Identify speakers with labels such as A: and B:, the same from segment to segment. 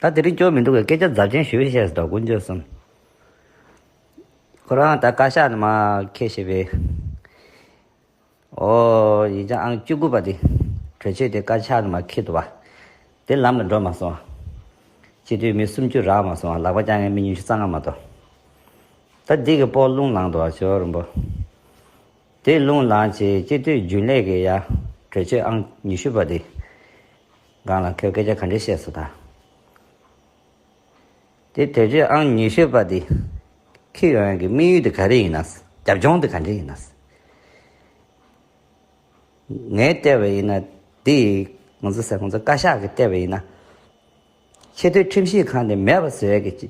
A: ད་དེ་རིང་སྐྱོར་མི་འདུག་པས་སྐད་ཆ་རྫབ་ཆེན་ཞུས་ཤེས་སོ་ཀུན་སྤྱོད་གསུམ། ཁོ་རང་ད་བཀའ་ཤག་ནས་མ་ཁེ་ཤེས་པས། ཨོ། ཡིན་ཅང་ཨང་བཅུ་དགུ་པ་དེ་གྲོས་ཆོད་དེ་བཀའ་ཤག་ནས་མ་ཁེ་འདུག་བ། དེ་ལམ་ལ་འགྲོ་མ་སོང་བ། སྤྱི་འཐུས་མི་སུམ་ཅུ་རག་མ་སོང་བ་ལག་པ་བསྐྱང་མཁན་མི་ཉུང་ཤས་རྩ་སྔ་མ་གཏོགས། ད་འདི་གི་སྤོག་རླུང་ལངས་འདུག་བ་ཞོ་རིན་པོ། དེ་རླུང་ལངས་ཆེད་སྤྱི་འཐུས་རྒྱུན་ལས་ཀྱི་ཡ་གྲོས་ཆོད་ཨང་ཉི་ཤུ་པ་དེ། སྒང་ལ་ཁོས་སྐད་ཆ་ག་འདྲའི་བཤད་སོ་ད། དེ་དེ་རྗེས་ཨང་ཉི་ཤུ་པ་དེ་ཁི་ཡོན་ཡན་གྱི་དམིགས་ཡུལ་དེ་ག་རེ་ཡིན་ན། རྒྱབ་ལྗོངས་དེ་ག་འདྲའི་ཡིན་ན། ངའི་ལྟས་པ་ཡིན་ན་དེ་ང་ཚོ་སེ་ཁོང་ཚོ་བཀའ་ཤག་གི་ལྟས་པ་ཡིན་ན། ཆེས་མཐོའི་ཁྲིམས་ཞིབ་ཁང་དེ་མེད་པ་བཟོས་ཀྱི་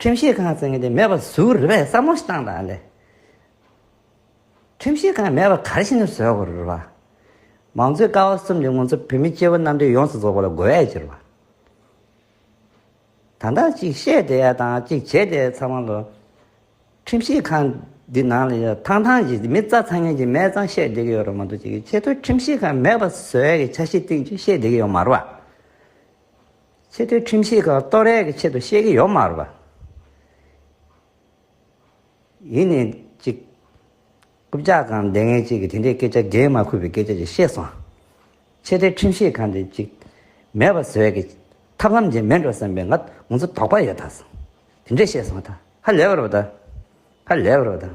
A: ཁྲིམས་ཤེས་གང་ཟེར་མཁན་དེ་མེད་པ་བཟོ་རེད་པས་བསམ་བློ་ཞིག་བཏང་དང་ལེ། ཁྲིམས་ཤེས་གང་མེད་པ་གར་ཕྱིན་ནས་བཟོས་དགོས་རེད་པ། མང་གཙོའི་ཀ་བ་གསུམ་དེ་ང་ཚོ་བོད་མི་སྐྱེ་བོ་རྣམ་གྲངས་ཡོངས་སུ་རྫོགས་པ་ལ་དགོས་ཡ་ཅི་རེད་པ། ད་ལྟ་ཅིག་བཤད་བསྡད་ཡ་དང་ཅིག་བྱེད་བསྡད་ཡ་ཚང་མ་ལ། ཁྲིམས་ཤེས་གང་འདི་ནང་ལ་ཡོད་ཐང་ཐང་གི་མི་རྩ་ཚང་ངན་གྱི་མས་ཙང་བཤད་བསྡད་ཀྱི་ཡོད་རེད་མ་གཏོགས་ཅིག་ཆེ་མཐོའི་ཁྲིམས་ཤེས་གང་མེད་པ་བཟོས་ཡ་གི་ཆ་ཤས་སྟེང་ཅིག་བཤད་བསྡད་ཀྱི་ཡོད་མ་རེད་པ། ཆེ་མཐོའི་ཁྲིམས་ཤེས་ཁག་ལྟོས་ར་གི་ཆེད་དུ་བཤད་ཀྱི་ཡོད་མ་རེད་པ། ཡིན་ནའི་ཅིག། རྐུབ་ལྕག་གང་འདེད་མཁན་ཅིག་གིས་དེ་འདྲའི་སྐད་ཆ་འགན་མ་ཁུར་བའི་སྐད་ཆ་ཅིག་བཤད་སོང། ཆེ་མཐོའི་ཁྲིམས་ཤེས་ཁག་འདི་ཅིག། མེད་པ་བཟོས་ཀྱི། ཐབས་ལམ་འབྱེད་མེད་འགྲོ་བསམ་པའི་ང་ང་ཚོ་དོགས་པ་ཡོད་ད། དེ་འདྲས་བཤད་སོང་ད། ཧ་ལས་པ་རེད་པ་ད། ཧ་ལས་པ་རེད་པ་ད།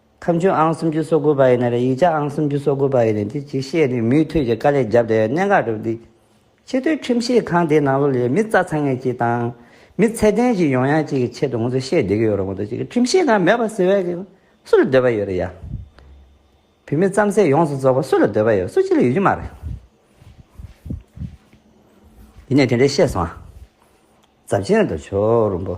A: ཁམས་ཆུང་ཨང་སུམ་ཅུ་སོ་དགུ་པ་ཡི་ནས་རེད་ཡིག་ཆ་ཨང་སུམ་ཅུ་སོ་དགུ་པ་ཡི་ནས་དེ་གཅིག་བཤད་ནས་མུས་མཐུད་ཀྱི་དཀའ་ལས་རྒྱབ་སྡད་གནད་འགག་གྲུབ་འདུག་ཆེ་མཐོའི་ཁྲིམས་བཤད་ཁང་དེའི་ནང་ལོ་ལས་མི་རྩ་ཚང་ངེས་ཅིག་དང། མི་ཚད་ལྡན་ཅིག་ཡོང་ཡག་ཅིག་གི་ཆེད་དུ་ང་ཚོས་བཤད་སྡད་ཀྱི་ཡོད་རེད་མ་གཏོགས་ཅིག་ཁྲིམས་བཤད་ཁང་མེད་པ་ཟེར་བ་ཞིག་སུ་ལ་འདོད་པ་ཡོད་རེད་ཡ། བུད་མེད་རྩམ་ཟས་ཡོངས་སུ་རྫོགས་པ་སུ་ལ་འདོད་པ་ཡོད་སུ་གཅིག་ལ་ཡོད་རྒྱུ་མ་རེད། ཡིན་ནས་དེ་འདྲ་བཤད་སོང། རྫབ་ཆེན་དང་ཆོ་རུམ་པོ།